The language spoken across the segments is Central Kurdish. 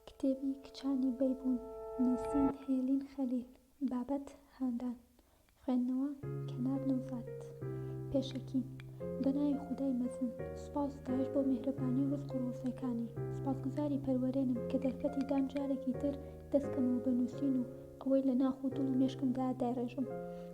کتێبی کچانی بەیبوون، نووسین، هێلین خەلیل بابەت، هاندان، خوێندنەوە، کەنار نەوزاد پێشەکی، بەناوی خودای مەزن، سوپاس و ستایش بۆ میهرەبانی و ڕزق و ڕۆزیەکانی، سوپاسگوزاری پەروەرێنم کە دەرفەتی دام جارێکی تر دەستکەمەوە بە نووسین و ئەوەی لە ناخ و دڵ و مێشکمدایە دایڕێژم،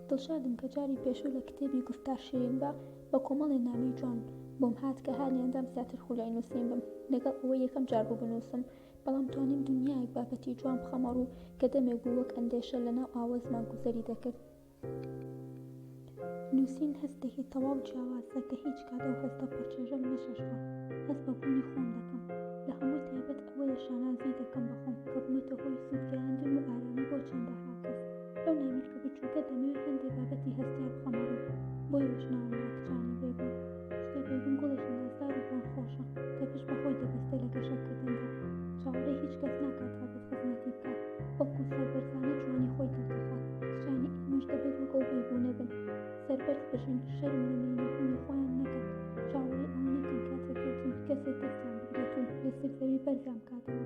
دڵشادم کە جاری پێشوو لە کتێبی گوفتار شیرین بە. بە کۆمەڵێ نامەی جوان بۆم هات کە هانیان دام زیاتر خولای نووسین بم، لەگەڵ ئەوەی یەکەم جار بوو بنووسم، بەڵام توانیم دنیایەک بابەتی جوان بخەمە ڕوو کە دەمێک بوو وەک ئەندێشە لە ناو ئاوەزما گوزەری دەکرد. نووسین هەستێکی تەواو جیاوازە کە هیچ کات ئەو هەستە پڕچێژەم نەچەشتووە، هەست بە بوونی خۆم دەکەم. لە هەمووی تایبەت ئەوەیە شانازی دەکەم بە خۆم کە بوومەتە هۆی سوود گەیاندن و ئارامی بۆ چەندەها کەس. ئەو نامیلکە بچووکە دەمەوێت هەندێک بابەتی هەستیار بخەمە ڕوو بۆیەش ناوم نا کچانی بێگوم کچکە بێگوم گوڵێکی نازدار و پڕ خۆشە کە پشت بەخۆی دەبەستێ لە گەشەکردندا چاوەڕێی هیچ کەس ناکات هەبێت خزمەتی بکات بەڵکو سەربەرزانە جوانی خۆی دەردەخات کچانی ئێمەش دەبێت وەک ئەو بێگونە بن سەربەرز بژین شەرم لە مێینەبوونی خۆیان نەکەن چاوەڕێی ئەوە نەکەن کاتێک بێتون کەسێک دەستیان بگرێت و لەسەر زەوی بەرزیان بکاتەوە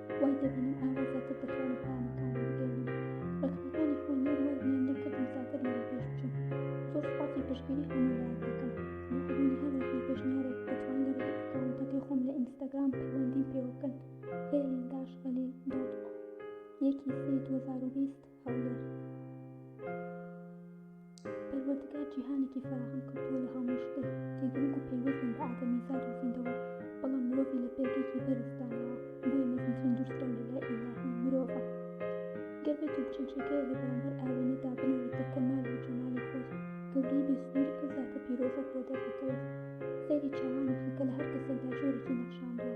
وای دەبینم ئاوا زیاتر دەتوانم پەیامەکان بگەینم ڕێکخەکانی خۆی نەر وای نیان لێکردم زیاتر لەوە پێش بچم زۆر سپاسی پشتگیری هەموو لایەک دەکەم بۆ بوونی هەر ڕێکخی پێشنیارێک دەتوان لە ڕێگەی ئەکاونتەکەی خۆم لە ئینستاگرام پەیوەندیم پێوە بکەن هێلین داش خەلیل دۆت یەکی سێی 2020 هەولێر پەروەردگار جیهانێکی فەراهەم کردووە لە هەموو شتێک کە گرنگ و پەیوەستن بە ئادەمیزاد و زیندەوەر بەڵام مرۆڤی لە پێگەیەکی بەرزدانەوە بۆیە مەزنترین دوورسرا لە لای ئیلاهی مرۆڤە گەر بێت و بچەنچەکەی لە بەرامبەر ئاوێنەدا بنێت بە کەمال و جەمالی خۆی گەورەی بێسنوور ئەو زاتە پیرۆزەت بۆ دەردەکەوێت سەیری چاوانی خەکە لە هەر کەسێکدا جۆرێکی نەخشاندووە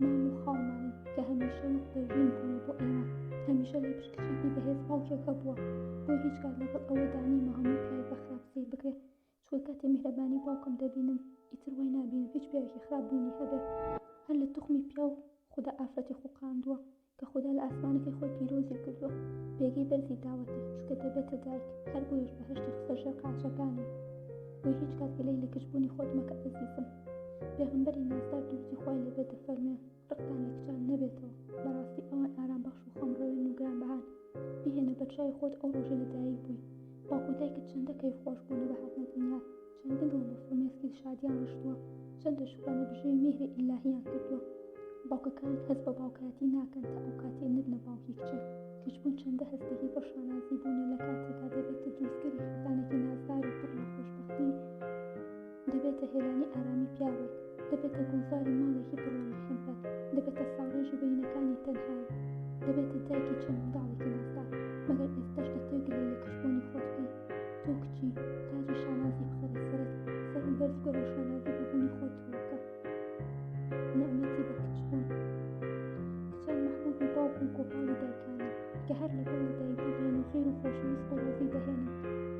مام و خاڵمانی کە هەمیشە وەک پەروین بوونە بۆ ئێمە هەمیشە لە پشتکچێکی بەهێز باوکێکە بووە بۆی هیچ کات لەگەڵ ئەوە دانیمە هەموو پیاوێک بە خراپ سیر بکرێ چکە کاتێ میهرەبانی باوکم دەبینم ئیتر وای نابینم هیچ پیاوێکی خراپ بوونی هەبێ هەر لە توخمی پیاو خودا ئافرەتی خوقاندووە کە خودا لە ئاسمانەکەی خۆی پیرۆزی کردووە پێگەی بەرزی داوەتێ چکە دەبێتە دایک هەر بۆیش بەهشتی خستە ژێر قاچەکانی بۆی هیچ کات گەلەی لە کچبوونی خۆت مەکە ئەزیزم پێغمبەری نازدار درودی خوای لێبێ دەفەرموێ ڕقتان لە کچان نەبێتەوە بەڕاستی ئەوان ئارام بەخش و خەم ڕەوێن و گرانبەهان بیهێنە بەرچاوی خۆت ئەو ڕۆژەی لەدایک بووی باوکو دایکت چەندە کەیف خۆش بوو لە بەهاتنە دنیا چەند دڵ و فرمێسکی شادیان ڕشتووە چەند لە شکرانە بژێوی مێهرە ئیلاهیان کردووە باوکەکان هەست بە باوکایەتی ناکەن تا ئەو کاتێ نەبنە باوکی کچێ کچبوون چەندە هەستێکی بۆ شانازی بوونە لە کاتێکا دەبێتە دروستکەری خێزانێکی نازدار و پڕ لە خۆشبەختی دەبێتە هێلانی ئارامی پیاوێک دەبێتە گوڵزاری ماڵێکی پڕ لە مەحەبەت، دەبێتە ساڕێژی بەینەکانی تەنهایی، دەبێتە دایکی چەند منداڵێکی نازدار، مەگەر ئێستەش دەتەوێ گلەی لە کچبوونی خۆت بکەی؟ تۆ کچی، تاجی شانازی بخەرە سەرت، سەرت بەرز بکەرەو شانازی بە بوونی خۆت بکە. نەعمەتی بە کچبوون. کچان مەحبوبی باوک و گۆپاڵی دایکانن، کە هەر لە گەڵ دایکی دێن و خێر و خۆشەویست و ڕێزی دەهێنن.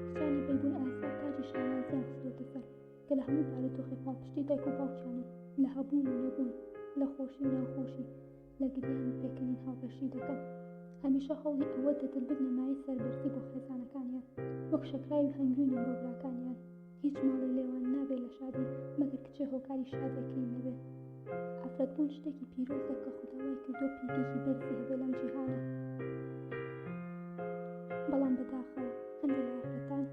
کچانی بەیبوون ئاسا تاجی شانازیان خستۆتە سەر، کە لە هەموو بارودۆخێ پاڵپشتی دایک و باوکیانن، لە هەبوون و نەبوون، لە خۆشی و ناخۆشی، لە گریان و پێکەنین هاوبەشی دەکەن. هەمیشە هەوڵی ئەوە دەدن ببنە مایەی سەربەرزی بۆ خێزانەکانیان، وەک شەکراوی هەنگوینن بۆ براکانیان. هیچ ماڵێ لێوان نابێ لە شادی، مەگەر کچێ هۆکاری شادێکەی نەبێ. ئافرەت بوون شتێکی پیرۆزە کە خوداوای کردۆ پیتێکی بەرزی هەبێ لەم جیهانە بەڵام بەداخەوە هەندێک لە ئافرەتان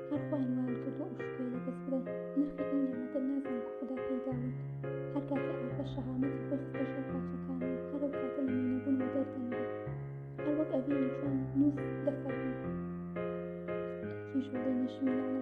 هەر خۆیان وایان کردو ئەو شکۆی لەدەست بدەن نرخی ئەو نعمەتە نازان کە خودا پێیداون هەر کاتێ ئافرەت شەهامەتی خۆی خستە ژێر قاچەکان و هەر ئەو کاتە لە مێنەبوون و دەردەنگی هەر وەک ئەڤینی جوان نووس دەفەرموو کیژۆڵی نەشمیلانە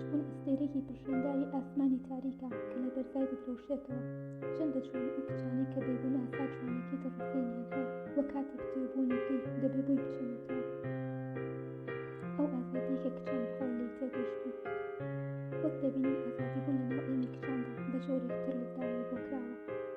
چکون ئەستێرەیەکی پرشنگداری ئاسمانی تاریکە کە لە بەرزای دەدرەوشێتەوە چەند دەچوێنە ئەو کچانەی کە بێگونە ئاسا جوانێکی دڕفێنیان هەیە و کاتێک تێر بوونی پێی دەبێ بۆی بچێنێتەوە ئەو ئازادیە کە کچان بەخۆی لێی تێگەشتوون وەک دەبینین ئازادی بوون لەناو ئێمی کچاندا بە جۆرێک تر لێکدانەوە بۆ کراوە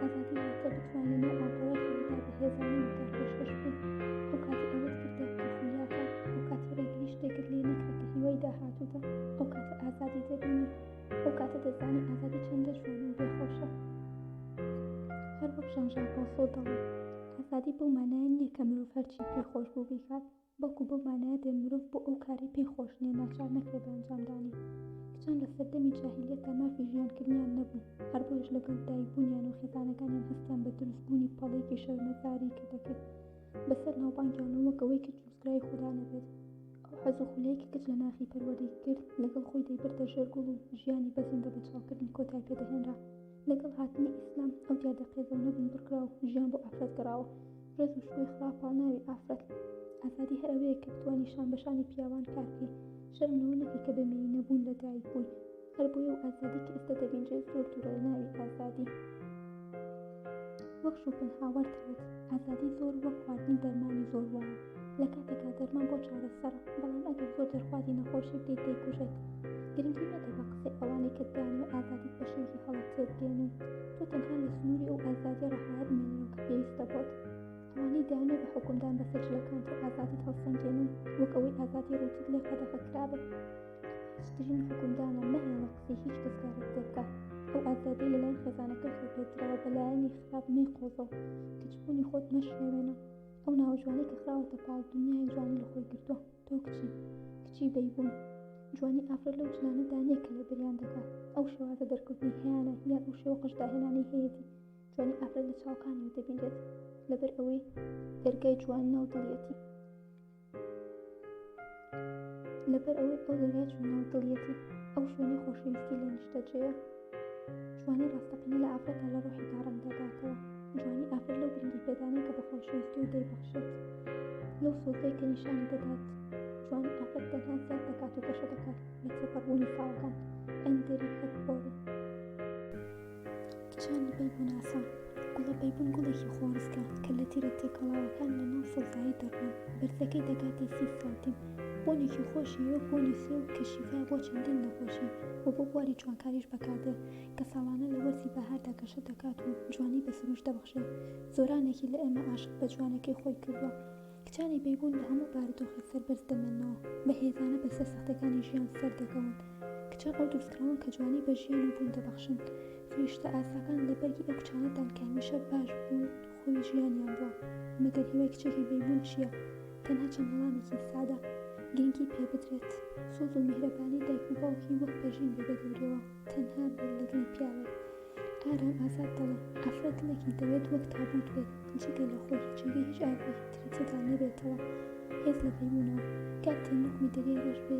ئازادی واتە بتوانین ئەو ئاڵقەوەی خەڵدا بە هێزانەی وتار پێشکەش بکەین ئەو کاتی ئەوەت کردە کە خولیاتە ئەو کاتی ڕێگریش تێکت لێ نەکرێت کە هیوای داهاتووتە ئەو کاتە ئازادی دەبینی ئەو کاتە دەزانی ئازادی چەندە جوان و بێخۆشە هەر وەک ژان ژان ڕۆسۆ دەڵێت ئازادی بەو مانایە نییە کە مرۆڤ هەرچی پێ خۆش بوو بیکات بەڵکو بەو مانایە دێن مرۆڤ بۆ ئەو کارەی پێی خۆش نیە ناچار نەکرێ بە ئەنجامدانی. کچان لە سەردەمی جاهیلیەتدا مافی ژیانکردنیان نەبوو، هەر بۆیەش لەگەڵ دایکبوونیان و خێزانەکانیان هەستیان بە دروستبوونی پەڵەیەکی شەرمەزاری کە دەکرد بەسەر ناوبانگیان و وەک ئەوەی کچ ڕزگاری خودا نەبێت، ئەو حەز و خولەی کە کچ لە ناخی پەروەردەی کرد لەگەڵ خۆی دەیبردە ژێر گوڵ و ژیانی بە زیندەبەچاڵکردن کۆتای پێدەهێنرا. لەگەڵ هاتنی ئیسلام ئەو دیاردە قێزەونە بندڕکرا و ژیان بۆ ئافرەت گەڕاوە ڕێز و شکۆی خوا پاڵناوی ئافرەت ئازادی هەر ئەوەیە کە بتوانی شان بە شانی پیاوان کار بکەی شەرم لەوە نەکەی کە بە مێی نەبوون لە دایک بووی هەر بۆیە و ئازادی کە ئێستا دەبینرێت زۆر دوورە لە ناوی ئازادی وەک شوپن هاوەرتەوت ئازادی زۆر وەک خواردنی دەرمانی زۆر وایە لە کاتێکا دەرمان بۆ چارەسەرە بەڵام ئەگەر زۆر دەرخوازی نەخۆشی بدەیت دەیکوژێت گرنگی مەدە بە قسەی ئەوانەی کە دەیان و ئازادیت بە شێوکی هەڵە تێبگەێنن تۆ تەنها لە سنووری ئەو ئازادی ڕەهایە بمێنەوە کە پێویستە بۆت ئەوانەی دەیانێ بە حکومدان بەسەر جلەکان تۆ ئازادیت هەڵسەنگێنن وەک ئەوەی ئازادی ڕووتت لێ قەدەغە کرابێت هیچترین حکومدانە مەهێڵە قسەی هیچ کەس کارت پێ بکات ئەو ئازادی لەلایەن خێزانەکەی خۆ پێدراوە بەلایەنی خراپ نەیقۆزەوە کچبوونی خۆت مەشێوێنە ئەو ناوە جوانەی کە خراوەتە پاڵ دنیای جوانی لە خۆی گرتووە تۆ کچی کچی بەیبوون جوانی ئافرەت لەو جنانەدا نییە کە لەبەریان دەکات ئەو شێوازە دەرکەوتنی هەیانە یان ئەو شێوە قژداهێنانی هەیەتی جوانی ئافرەت لە چاوەکانی دەبینرێت لەبەر ئەوەی دەرگای جوان ناو دڵیەتی لەبەر ئەوەی ئەو دەریا چون ناو دڵیەتی ئەو شوێنی خۆشەویستی لە نیشتەجێە جوانی ڕاستەقینە لە ئافرەتە لە ڕۆحی داڕەنگ دەداتەوە جوانی ئافر لەو گرنگی پێدانە کە بە خۆشەویستی و دەیبەخشێت لەو سۆزەی کە نیشانی دەدات جوانی ئافرەت تەنها زیاد دەکات و گەشە دەکات لە تێپەڕبوونی ساڵەکان ئەندری هەبۆری کچانی بەیبوناسە، گوڵە بەیبون گوڵێکی خۆڕسکە کە لە تیرە تێکەڵاوەکان لە ناو سەوزایی دەڕوێت، بەرزەکەی دەگاتە سی سانتیم، بۆنێکی خۆشی وەک بۆنی سێو کە شیفایە بۆ چەندین نەخۆشی و بۆ بواری جوانکاریش بەکاردێت کە ساڵانە لە وەرزی بەهاردا گەشە دەکات و جوانی بە سروشت دەبەخشێت، زۆرانێکی لە ئێمە عاشق بە جوانەکەی خۆی کردووە. کچانی بەیبوون لە هەموو بارودۆخی سەر بەرز دەمێننەوە، بە هێزانە بەرزە سەختەکانی ژیان سەر دەکەون. کچان ئەو دروستکراون کە جوانی بە ژیان و بوون دەبەخشن. فریشتە ئاساکان لە بەرگی ئەو کچانەدان کە هەمیشە باش بوون خۆی ژیانیان بووە. مەگەر هیوای کچێکی بەیبوون چییە؟ تەنها چەند وەڵامێکی سادە گرنگی پێ بدرێت، سۆز و میهرەبانی دایک و باوکی وەک پەرژین بێ بە گەورەیەوە. تەنها بیر لە دڵی پیاوەک ئارام ئازاد دەڵێ، ئافرەت دڵێکی دەوێت وەک تابووت بێت، جگە لە خۆی، جێگەی هیچ ئاگرێکی تری تێدا نەبێتەوە، هێز لە بەیبوونەوە، کاک تەنۆک میدەریای ڕەش بێ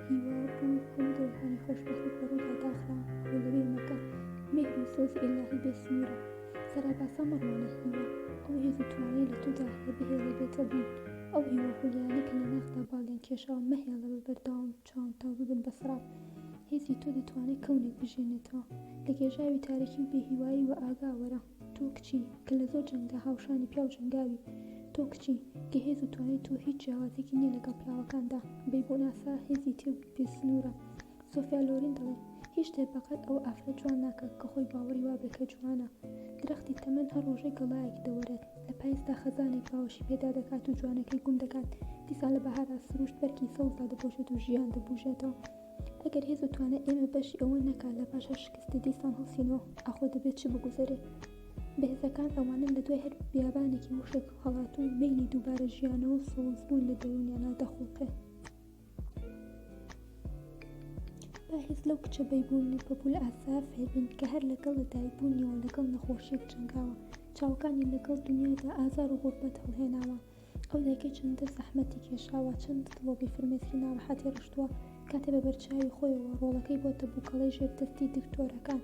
هیوا بوو، هەموو دەورەکانی خۆشبەختیت بە ڕوودا داخراون، خۆ لە بیر مەکە، میهر و سۆزی ئیلاهی بێ سنوورە، سەراباسا مەڕوانە هیوا، ئەو هێز و توانەیە لە تۆدا هەیە بهێڵێ بێتە بوون، ئەو هیوا خولیایانە کە لە ناخدا باڵیان کێشاوە مەهێڵە بە بەردەوامی. چۆن تاو ببن بە سڕاب؟ هێزی تۆ دەتوانێ کەونێک بژێنێتەوە لە گێژاوی تارێکی و بێهیوایی وەئاگا وەرە تۆ کچی کە لە زۆر جەنگدا هاوشانی پیاو جەنگاوی تۆ کچی کە هێز و توانای تۆ هیچ جیاوازێکی نیە لەگەڵ پیاوەکاندا بەی بۆ ناسا هێزی تێ بێ سنورە سۆفیا لۆرین دەڵێ هیچ شتێ بەقەد ئەوە ئافرەت جوان ناکا کە خۆی باوەڕی وابێ کە جوانە درەختی تەمەن هەر ڕۆژێ گەڵایەک دەوەرێت. لە پایزدا خەزانێک باوەشی پێدا دەکات و جوانەکەی گوم دەکات، دیسان لە بەهاردا سروشت بەرگی سەوز دادەپۆشێت و ژیان دەبوژێتەوە. ئەگەر هێز و توانای ئێمە بەشی ئەوە نەکات لە پاش هەر شکستێ دیسان هەڵسینەوە، ئاخۆ دەبێت چ بگوزەرێ؟ بەهێزەکان ئەوانەن لە دوای هەر بیابانێکی وشک هەڵاتوو و مەیلی دووبارە ژیانەوە و سەوزبوون لە دەروونیانا دەخوڵقێ. با هێز لەو کچە بەیبوون و پەپوولە ئاسا فێربین کە هەر لەگەڵ لەدایکبوونیەوە لەگەڵ نەخۆشیەک جەنگاوە چاوەکانی لەگەڵ دونیادا ئازار و غوربەت هەڵهێناوە ئەو دایکە چەندە زەحمەتی کێشاوە چەند دڵۆپی فرمێسکی ناڕەحەتی ڕشتووە کاتێ بەبەرچاوی خۆیەوە ڕۆڵەکەی بۆتە بوکەڵەی ژێر دەستی دکتۆرەکان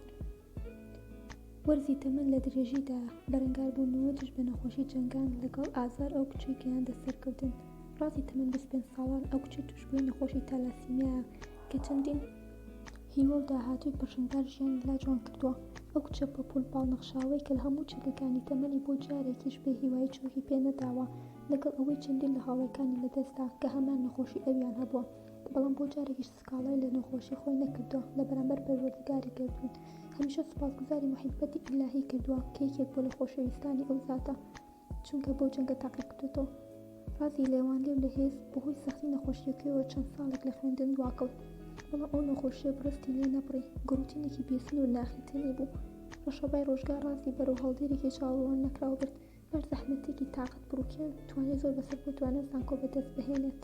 وەرزی تەمەن لە درێژیدا، بەرەنگاربوونەوە دژ بە نەخۆشی جەنگان لەگەڵ ئازار ئەو کچەی گەیاندە سەرکەوتن. ڕازی تەمەن 25 ساڵان، ئەو کچە تووشبووی نەخۆشی تالاسیمیایە کە چەندین هیوا و داهاتووی پەرژینبار ژیانی لا جوان کردووە. ئەو کچە پەپوول باڵنەخشاوەی کە لە هەموو چەکەکانی تەمەنی بۆ جارێکیش بێ هیوایی چۆکی پێ نەداوە، لەگەڵ ئەوەی چەندین لە هاوڕێکانی لەدەستدا کە هەمان نەخۆشی ئەویان هەبووە، بەڵام بۆ جارێکیش سکاڵای لە نەخۆشی خۆی نەکردووە لە بەرامبەر پەروەردگاری گەردوون هەمیشە سوپاسگوزاری موحیبەتی ئیلاهی کردووە کە یەکێک بووە لە خۆشەویستانی ئەو زاتە چونکە بەو جەنگە تاقی کردۆتەوە ڕازی لێوانلێو لە هێز بەهۆی سەختی نەخۆشیەکەیەوە چەند ساڵێک لە خوێندن دواکەوت بەڵام ئەو نەخۆشیە بڕستی لێ نەبڕی گڕوتینێکی بێسنوور ناخی تێنی بوو ڕەشەبای ڕۆژگار ڕازی بەرەو هەڵدێرێکی چاوەڕوان نەکراو برد بەر زەحمەتێکی تاقەت بڕوکێن توانی زۆر بەسەر بۆ توانە زانکۆ بەدەست بهێنێت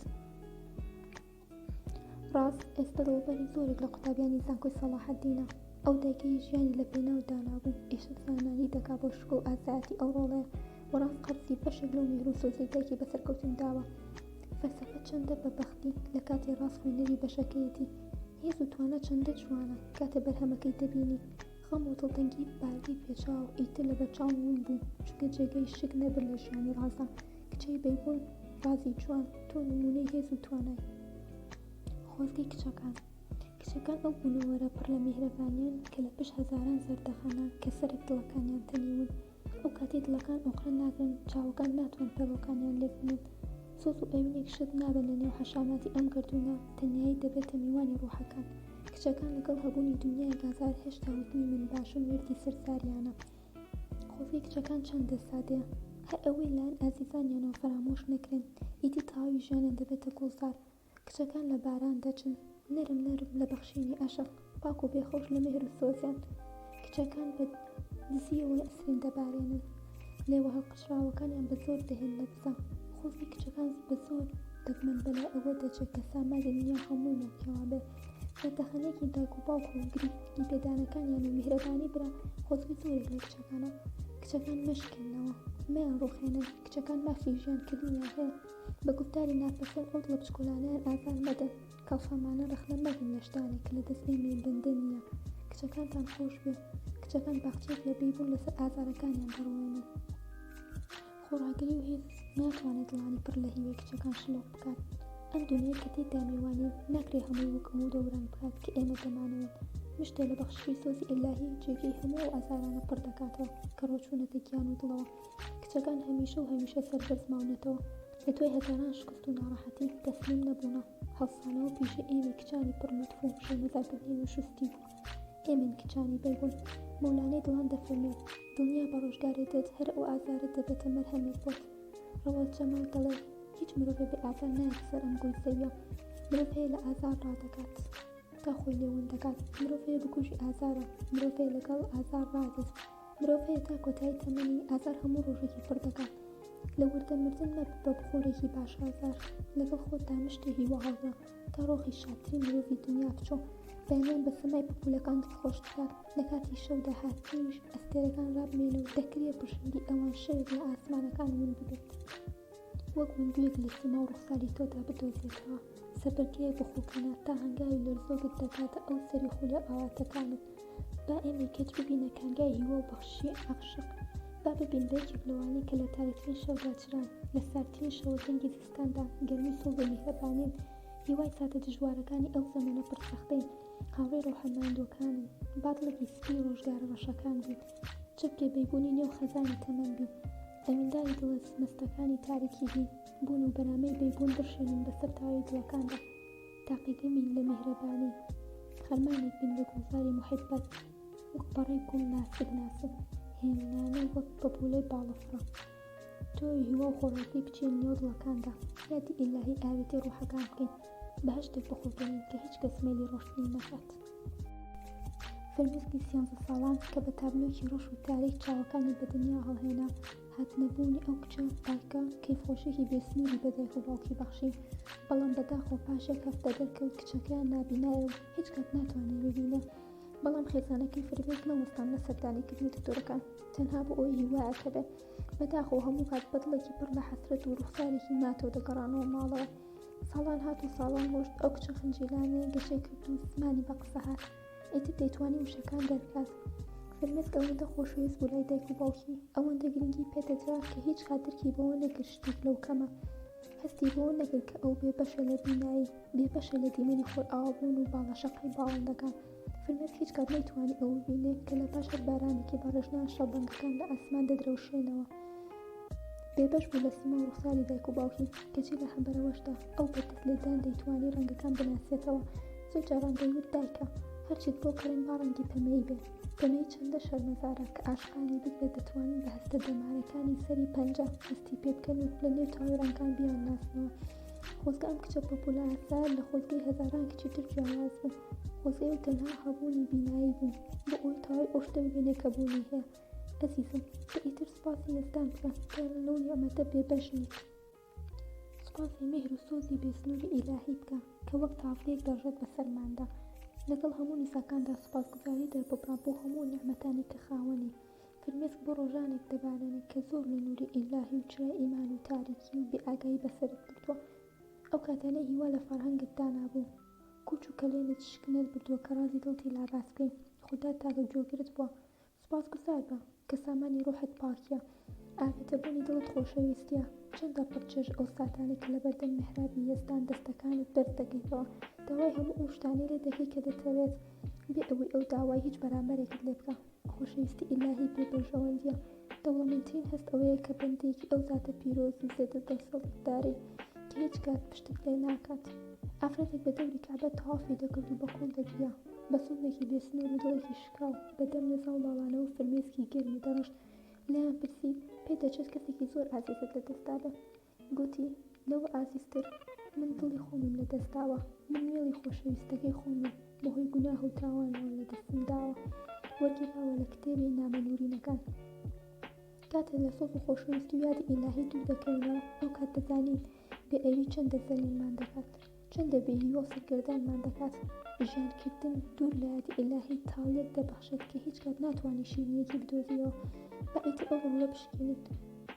ڕاست ئێستا دڵبەری زۆرێک لە قوتابیانی زانکۆی سەڵاحەدینە، ئەو دایکەی ژیانی لە پێناو دانا بوو ئیشەو زانایانی دەکا بۆ شکۆ و ئازایەتی ئەو ڕۆڵەیە و ڕاست قەرزی بەشێک لەو میهرو سۆزەی دایکی بە سەرکەوتن داوە فەلسەفە چەندە بە بەختی لە کاتی ڕاست خوێنەری بەشەکەیەتی هێز و توانا چەندە جوانە کاتێ بەرهەمەکەی دەبینی خەم و دڵتەنگی بارگەی پێچاو ئیتر لە بەرچاوم ون بوو چونکە جێگەی شک نەبن لە ژیانی ڕازدا کچەی بەیبوون ڕازی جوان تۆ نمونەی هێز و توانای خۆزگەی کچەکان کچەکان ئەو بوونەوەرە پڕ لە میهرەبانیان کە لە پشت هەزاران زەردەخەنە کە سەرێک دڵەکانیان تەنیون ئەو کاتی دڵەکان ئۆقرە ناگرن چاوەکان ناتوان پەڵۆکانیان لێ بنێن سۆز و ئەوینێک شت نابن لە نێو حەشاماتی ئەم گردونە تەنیایی دەبێتە میوانی ڕوحەکان کچەکان لەگەڵ هەبوونی دنیای گازار هێشتا وتنی من باشم وردی سەرزاریانە خۆزگەی کچەکان چەندە سادەیە هەر ئەوەی لایەن ئازیزانیانەوە فەرامۆش نەکرێن ئیدی تەواوی ژیانیان دەبێتە گوڵزار کچەکان لە باران دەچن نەرم نەرم لە بەخشینی عەشق پاک و بێخەوش لە مێهر و سۆزیان کچەکان بە دزییەوە نەسرین دەبارێنن لێوە هەڵقرچراوەکانیان بە زۆر دەهێن لە دزە خۆزگەی کچەکان بە زۆر دەگمەن بەلای ئەوە دەچێت کە سامانی دنیا هەمووی ملکییەوە بێت پێتەخەنێکی دایک و باوک و گرنگی پێدانەکانیان و میهرەبانی برا خۆزگە زۆرێک لە کچەکانە کچەکان مەشکێننەوە مەیان ڕوخێنن کچەکان مافی ژیان کردنیان هەیە بە گوفتاری ناپەسەند ئەو دڵە بچکۆلانەیان ئازار مەدەن کاڵفامانە ڕەخنە مەگرن لە شتانێک کە لە دەست ئێمەی بەندە نییە کچەکانتان خۆش بێ کچەکان باخچەیەک لە بێی بوون لەسەر ئازارەکانیان دەڕوێنن. خۆڕاگری و هێز ناتوانێ دڵانی پڕ لە هیوای کچەکان شلۆق بکات. ئەم دونیای کە تێیدا میوانین، ناکرێ هەمووی وکم و دەوران بکات کە ئێمە دەمانەوێت. مشتێ لە بەخششی سۆزی ئیلاهی جێگەی هەموو ئەو ئازارانە پڕ دەکاتەوە کە ڕۆچوونەتە گیان و دڵەوە. کچەکان هەمیشە و هەمیشە سەربەرز ماونەتەوە. لە دوای هەزاران شکست و ناڕەحەتی، تەسلیم نەبوونە. هەڵسانەوە و پیشەی ئێمەی کچانی پڕ لوتف و شەرمەزارکردنی ئێمە شوستی بوو. ئێمەین کچانی بەیبۆن. مەولانەی دڵان دەفەرموێت، دڵنیا بە ڕۆژگارێ دێت هەر ئەو ئازارەت دەبێتە مەرهەمێک بۆت. ڕەوەڵ جەمال دەڵێ، هیچ مرۆڤێ بێ ئازار نایەتە سەر ئەم گۆی زەویە. مرۆڤ هەیە لە ئازار ڕادەکات تا خۆی لێ ون دەکات. مرۆڤ هەیە بکوژی ئازارە. مرۆڤ هەیە لەگەڵ ئازار ڕادێ. مرۆڤ هەیە تا کۆتایی تەمەنی ئازار هەموو ڕۆژێکی پڕ دەکات لە وردە مردن مەبە بە بخۆرێکی باش ئازار لەگەڵ خۆتدا مشتێ هیوا هەڵدە تا ڕۆخی شادترین مرۆڤی دنیا بچۆ بەیانیان بە سەمای پپولەکان دڵ خۆش بکات لە کاتی شەودا هاتنیش ئەستێرەکان ڕابمێنە و دەکرێ پرشنگی ئەوان شەوێک لە ئاسمانەکان ون ببێت. وەک مندوویەک لە سیما و ڕوخساری تۆدا بدۆزێتەوە سەربەرگیای بۆ خۆکەنە تا هەنگاوی لەرزۆکت دەگاتە ئەو سەری خولە ئاواتەکانت با ئێمەی کەچ ببینە کانگای هیوا و بەخششی عاشق با ببین بە یەکێک لەوانەی کە لە تاریکترین شەودا چران لە ساردترین شەوە زەنگی زستاندا گەرمی سووڕ و میهرەبانین هیوای ساتە دژوارەکانی ئەو زەمەنە پڕ سەختەین هاوڕێی ڕۆحە ماندووەکانن با دڵێکی سپی ڕۆژگارە ڕەشەکان بین چەپکێ بەیبوونی نێو خەزانی تەمەن بین دەمینداری دڵە سمستەکانی تاریکی هی بوون و بەرامەی بەیبوون بڕشێنن بەسەر تاوی دڵەکاندا تاقیگە بین لە میهرەبانی خەرمانێک بین لە گوڵزاری موحیببەت وەک پەڕەی گوڵ ناسک ناسک هێمنانە وەک پەپولەی باڵەفڕە تۆی هیوا و خۆڕاکەی بچێن نێو دڵەکاندا یادی ئیلاهی ئاوێتی ڕوحەکان بکەین بەهەشتێک بخوڵقێنین کە هیچ کەس مەیلی ڕۆشتنی نەکات فرمێسکی سیانزە ساڵان کە بە تابلۆکی ڕەش و تاریک چاوەکانی بە دنیا هەڵهێنا، هاتنەبوونی ئەو کچە پاکە کەیفخۆشییەکی بێسنووری بە دایک و باوکی بەخشی، بەڵام بەداخەوە پاش یەک هەفتە دەرکەوت کچەکەیان نابینایە و هیچ کات ناتوانێت ببینێت. بەڵام خێزانەکەی فرمێسک نەوەستان لە سەردانیکردنی دکتۆرەکان، تەنها بۆ ئەوەی هیوایەک هەبێت. بەداخەوە هەموو کات بە دڵێکی پڕ لە حەسرەت و ڕووخسارێکی ماتەوە دەگەڕانەوە ماڵەوە. ساڵان هات و ساڵان ڕۆشت ئەو کچە خنجیلانەی گەشەی کرد و زمانی بە قسە هات ئیتر دەیتوانی وشەکان دەربکات فرمێسک ئەوەندە خۆشەویست بوو لای دایک و باوکی ئەوەندە گرنگی پێدەدرا کە هیچ کات درکی بەوە نەکرد شتێک لەو کەمە هەستی بەوە نەکرد کە ئەو بێبەشە لە بینایی بێبەشە لە دیمەنی خۆرئاوابوون و باڵەشەقی باڵندەکان فرمێسک هیچ کات نەیتوانی ئەوە ببینێ کە لە پاش هەر بارانێکی بەڕێژ ناشڵ بەنگەکان لە ئاسمان دەدرەوشێنەوە. بێبەش بوو لە سیما و ڕوخساری دایک و باوکی، کەچی لە هەمبەرەوەشدا ئەو بە دەست لێدان دەیتوانی ڕەنگەکان بناسێتەوە. زۆر جاران دەیوت دایکە، هەرچیت بۆ کڕیم با ڕەنگی پەمەیی بێ. پەمەیی چەندە شەرمەزارە کە عاشقانی بگرە دەتوانن بە هەستە دەمارەکانی سەری پەنجە هەستی پێ بکەن و لە نێو تاوی ڕەنگەکان بیانناسنەوە. خۆزگە ئەم کچە پەپوولە ئاسایە لە خۆزگەی هەزاران کچی تر جیاواز بوو. وزەیەو تەنها هەبوونی بینایی بوون بۆ ئەوەی تەواوی ئەو شتە ببینێت کە بوونی هەیە ئەزیزم تۆ ئیتر سوپاسی یەزدان بکە کە لەو نیعمەتە بێبەش نیت سوپاسی میهر و سۆزی بێ سنووری ئیلاهی بکە کە وەک تاڤگەیەک دەڕژێت بەسەرماندا لەگەڵ هەموو نیزاکاندا سوپاسگوزاری دەرببڕە بۆ هەموو نیعمەتانی کە خاوەنی فرمێسک بۆ ڕۆژانێک دەبارێنێت کە زۆر لە نووری ئیلاهی و چرای ئیمان و تاریکی و بێئاگایی بەسەرت بردووە ئەو کاتانەی هیوا لە فەڕهەنگت دانابوو کۆچ و کەلێنت شک نەت بردوە کە رازی دڵتی لا باس کەی خودا تاکە گوێگرت بوە سوپاس گوزار بە کە سامانی روحت پاکیە ئاوێتە بونی دڵت خۆشەویستیە چەندە پڕ چێژ ئەو ساتانەی کە لەبەردەم میحرابی یەزدان دەستەکانت بەرز دەکەیتەوە داوای هەموو ئەو شتانەی لێ دەکەی کە دەتەوێت بێ ئەوەی ئەو داوای هیچ بەرامبەرێکت لێ بکا. خۆشەویستی ئیلاهی بێ بەرژەوەندیە. دەوڵەمەندترین هەست ئەوەیە کە بەندەیەکی ئەو زاتە پیرۆز و زێدە دەسەڵتدارەی کە هیچ کات پشتت لێ ناکات. ئافرەتێک بە دەوری کەعبە تەوافی دەکرد و بە قووڵ دەگریا، بە سۆزێکی بێ سنوور و دڵێکی شکاو بە دەم لە زاڵماڵانەوە فرمێسکی گەرمی دەڕشت. لێیان پرسی، پێت دەچێت کەسێکی زۆر ئازیزت لە دەست دابێ؟ گوتی، لەوە ئازیزتر من دڵی خۆمم لە دەست داوە، من مێڵی خۆشەویستەکەی خۆمم بە هۆی گوناه و تاوانەوە لە دەستم داوە. وەرگێڕاوە لە کتێبی نامە نوورینەکان. کاتێ لە سۆز و خۆشەویستی و یادی ئیلاهی دوور دەکەوینەوە، ئەو کات دەزانین بێ ئەوی چەندە زەلیلمان دەکات. چەندە بێ هیوا سەرگەردانمان دەکات، ژیان کردن دوور لە یادی ئیلاهی تاڵییەک دەبەخشێت کە هیچ کات ناتوانی شیرینیەکی بدۆزیەوە، با ئیتر ئەو ڕۆڵە بشکێنین،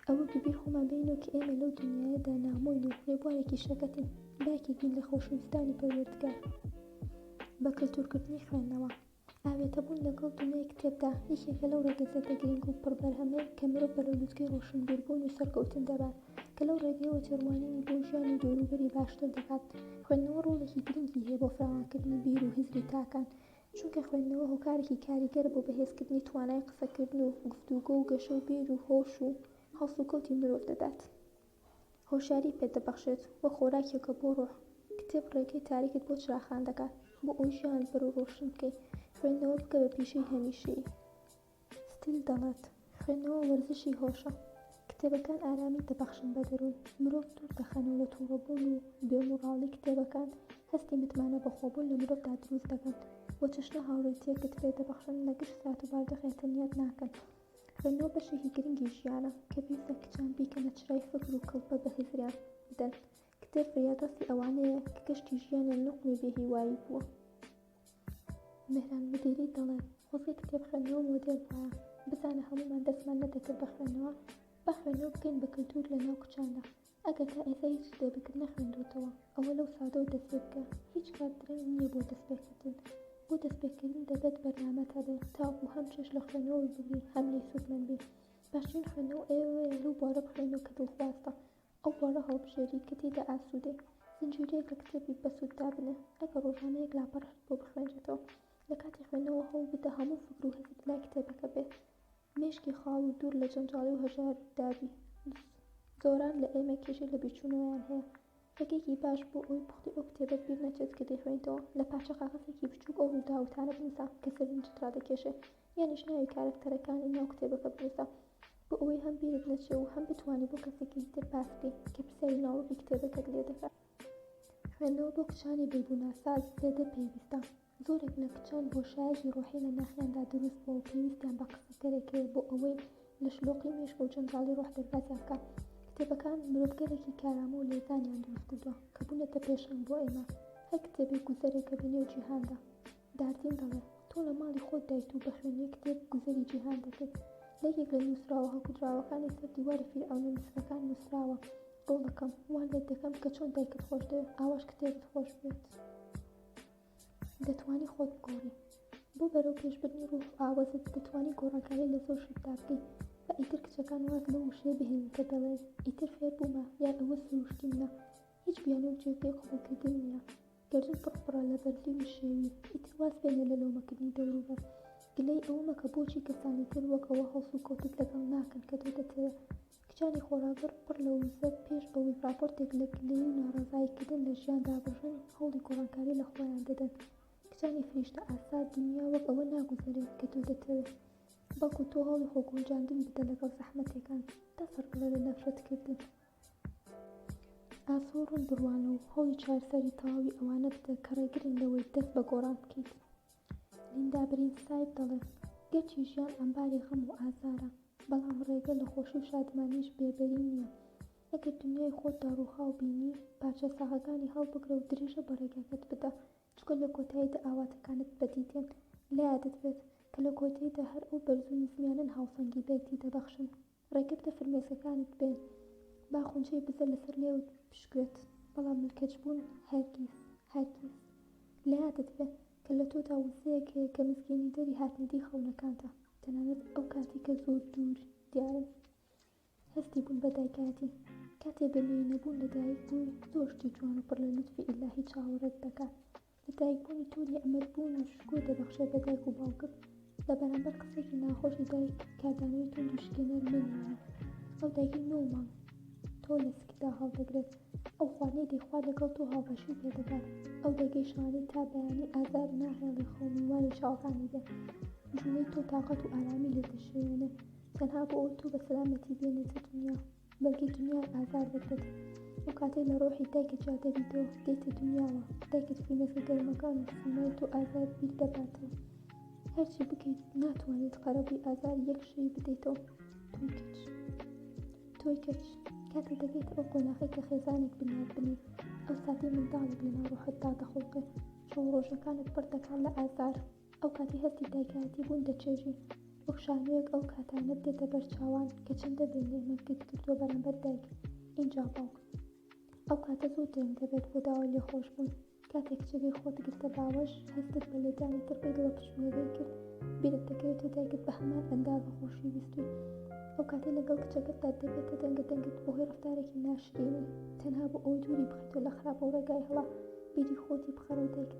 ئەوە بەبیر خۆمان بێنینەوە کە ئێمە لەو دونیایەدا نامۆین و ڕێبوارێکی شەکەتین، با یەکێک بین لە خۆشەویستانی پەروەردگار بە کلتوورکردنی خوێندنەوە. ئاوێتەبوون لەگەڵ دونیای کتێبدا یەکێکە لەو ڕەگەزێتە گرنگ و پڕ بەرهەمەیان کە مرۆڤ بەرەو لوتکەی ڕۆشنبیربوون و سەرکەوتن دەبات کە لەو ڕێگەیەوە تێڕوانینی بۆ ژیان و دەوروبەری باشتر دەکات خوێندنەوە ڕۆڵێکی گرنگی هەیە بۆ فراوانکردنی بیر و هزری تاکان چونکە خوێندنەوە هۆکارێکی کاریگەرە بۆ بەهێزکردنی توانای قسەکردن و گفتوگۆ و گەشە و بیر و هۆش و هەڵسوکەوتی مرۆڤ دەدات. هۆشیاری پێت دەبەخشێت و خۆراکێکە بۆ ڕۆح. کتێب ڕێگەی تاریکت بۆ چراخان دەکات، بۆ ئەوەی ژیانت بەر و ڕۆشن بکەی، خوێندنەوە بکە بە پیشەی هەمیشەیی. ستیل دەڵێت، خوێندنەوە وەرزشی هۆشە. کتێبەکان ئارامی دەبەخشن بە دەروون، مرۆڤ دوور دەخەن و لە توڕەبوون و بێ موڕاڵی کتێبەکان هەستی متمانە بەخۆبوون لە مرۆڤدا دروست دەکەن و چەشنە هاوڕێیتییەکت پێ دەبەخشن، لە گشت سات و بارودۆخێک تەنیات ناکەن. خوێندنەوە بەشێکی گرنگی ژیانە کە پێویستە کچان بیکەنە چرای فکر و کڵپە بە هزریان بدەن. کتێب فریادڕەسی ئەوانەیە کە کەشتی ژیانیان نوقمی بێهیوایی بووە. مەهران مودیری دەڵێت، خۆزگە کتێب خوێندنەوە مۆدێل بوایە، بزانە هەموومان دەستمان نەدەکرد بە خوێندنەوە، با خوێندنەوە بکەین بە کلتور لەناو کچاندا، ئەگەر تا ئێستا هیچ کتێبێکت نەخوێندووەتەوە، ئەوە لەو ساتەوە دەستپێبکە، هیچ کات درەنگ نییە بۆ دەستپێکردن، بۆ دەستپێکردن دەبێت بەرنامەت هەبێت تاوەکو هەم چێژ لە خوێندنەوەی ببینی هەم لێی سوودمەند بیت، باشترین خوێندنەوە ئەوەیە لەو بوارە بخوێنەوە کە دڵخوازتە ئەو بوارە هەڵبژێریت کە تێیدا ئاسوودەی، زنجیرەیەک لە کتێبی بەسوود دابنێ، ئەگەر ڕۆژانە یەک لاپەڕەشت بۆ بخوێنرێتەوە، لە کاتی خوێندنەوە هەوڵبدە هەموو فکر و هەستت لای کتێبەکە بێت. مێشکی خاڵ و دوور لە جەنجاڵی و هەژار و دادی. زۆران لە ئێمە کێشەی لە بیرچوونەوەیان هەیە. ڕێگەیەکی باش بۆ ئەوەی پوختی ئەو کتێبەت بیر نەچێت کە دەیخوێنیتەوە، لە پارچە کاغەزێکی بچووک ئەو ڕووداو و تانە بنووسە کە سەرنجت ڕادەکێشێ، یانیش ناوی کارەکتەرەکانی ناو کتێبەکە بنووسە بۆ ئەوەی هەم بیرت نەچێ و هەم بتوانی بۆ کەسێکی تر باس بکەی کە پرسیاری ناوەڕۆکی کتێبەکەت لێ دەکات. خوێندنەوە بۆ کچانی بێگوناساز زێدە پێویستە. زۆرێک لە کچان بۆشایەکی ڕۆحی لە ناخیاندا دروست بووە و پێویستیان بە قسەکەرێک هەیە بۆ ئەوەی لە شلۆقی مێشک و جەنجاڵی ڕۆح دەربازیان بکات. کتێبەکان مرۆڤگەلێکی کارامە و لێزانیان دروست کردووە کە بوونەتە پێشەنگ بۆ ئێمە. هەر کتێبێک گوزەرێکە بە نێو جیهاندا. داردین دەڵێ، تۆ لە ماڵی خۆتدایت و بە خوێندنی کتێب گوزەری جیهان دەکەیت. لە یەکێک لە نووسراوە هەڵکوتراوەکانی سەر دیواری فیرعەونە میسرەکان نووسراوە، گوڵەکەم، وا لێت دەکەم کە چۆن دایکت خۆش دەوێت، ئاواش کتێبت خۆش بوێت. دەتوانی خۆت بگۆری بۆ بەرەو پێش بردنی ڕوح و ئاوەزت دەتوانی گۆڕانکاری لە زۆر شتدا بکەی با ئیتر کچەکان واز لەو وشەیە بهێنن کە دەڵێن ئیتر فێر بوومە یان ئەوە سروشتی منە هیچ بیانوو و جێگەی قبوڵکردن نییە گەردن پڕ پڕە لە بەرزی و نشێوی ئیتر واز بێنە لە لۆمەکردنی دەوروبەر گلەی ئەوە مەکە بۆچی کەسانی تر وەک ئەوە هەڵسوکەوتت لەگەڵ ناکەن کە تۆ دەتەوێ کچانی خۆڕاگر پڕ لە وزە پێش ئەوەی ڕاپۆرتێک لە گلەیی و ناڕەزاییکردن لە ژیان دابڕژن، هەوڵی گۆڕانکاری لە خۆیان دەدەن. کچانی فریشتەئاسا، دونیا وەک ئەوە ناگوزەرێت کە تۆ دەتەوێت، بەڵکو تۆ هەوڵی خۆگونجاندن بدە لەگەڵ زەحمەتێکان، تا سەربڵێ لە نەفرەتکردن. ئاسۆ ڕوون بڕوانە و هەوڵی چارەسەری تەواوی ئەوانە بدە کە ڕێگرن لەوەی دەست بە گۆڕان بکەیت. لیندا برینگساید دەڵێ، گەرچی ژیان ئەمباری غەم و ئازارە، بەڵام ڕێگە لە خۆشی و شادمانیش بێبەری نییە. ئەگەر دونیای خۆتدا ڕووخاو بینی، پارچە ساغەکانی هەڵبگرە و درێژە بە ڕێگاکەت بدە، چونکە لە کۆتاییدا ئاواتەکانت بەدی دێن. لە یادت بێت، کە لە کۆتاییدا هەر ئەو بەرز و نزمیانەن هاوسەنگی بەیەکدی دەبەخشن. ڕێگە بدە فرمێسکەکانت بێن با خونچەی بزە لەسەر لێوت بشکوێت، بەڵام ملکەچبوون هەرگیز، هەرگیز. لە یادت بێ کە لە تۆدا وزەیەک هەیە کە مزگێنیدەری هاتنەدیی خەونەکانتە، تەنانەت ئەو کاتەی کە زۆر دوور دیارن. هەستی بوون بە دایکایەتی، کاتێ بە مێینەبوون لە دایک بووی، زۆر شتی جوان و پڕ لە لوتفی ئیلاهی چاوەڕێت دەکات، لە دایکبوونی تۆ نیعمەت بوون و شکور دەبەخشێت بە دایک و باوکت، لە بەرامبەر قسەیەکی ناخۆشی دایک کاردانەوەی توند و شکێنەر مەنوێنە، ئەو دایکەی نۆ مانگ تۆ لە سکتدا هەڵدەگرێت، ئەو خوانەی دەیخوات لەگەڵ تۆ هاوبەشی پێ دەکات، ئەو دایکەی شەوانەی تا بەیانی ئازار ناهێڵی خەو میوانی چاوەکانی بێت، جوڵەی تۆ تاقەت و ئارامی لێ دەشێوێنێت، تەنها بۆ ئەوەی تۆ بە سەلامەتی بێنێتە دونیا. بەڵکی دنیای ئازار دەدەت ئەو کاتەی لە ڕۆحی دایکە جادەبیتەوە دێتە دنیاوە دایکت فینەکە گەرمەکان و سیمای تۆ ئازار بیر دەباتەوە هەرچی بکەیت ناتوانێت قەرەبووی ئازار یەک شەی بدەیتەوە تۆی کچ تۆی کچ کاتێ دەبێت ئەو قۆناخی کە خێزانێک بنیاد بنێت ئەو ساتی منداڵێک لەناو ڕۆحتدا دەخڵقێت چۆ ڕۆژەکانت پڕ دەکات لە ئازار ئەو کاتی هەستی دایکایەتی بوون دەچێژی، وەک شانۆیەک ئەو کاتانەت دێتە بەر چاوان کە چەندە بێ نێمەت گرت کردووە بەرامبەر دایک ئینجا باوک. ئەو کاتە زۆر درەنگ دەبێت بۆ داوای لێخۆش بوون. کاتێک کچەکەی خۆت گرتە باوەش، هەستت بە لێدانی تڕ بەی دڵە پشوویەکەی کرد، بیرت دەکەوێت تۆ دایکت بە هەمان ئەندازە خۆشی ویستووی. ئەو کاتەی لەگەڵ کچەکەتدا دەبێتە دەنگە دەنگت بۆ هۆی ڕەفتارێکی ناشرینی، تەنها بۆ ئەوەی دووری بخەیتەوە لە خراپە و ڕێگای هەڵە، بیری خۆتی بخەرەوە دایکت.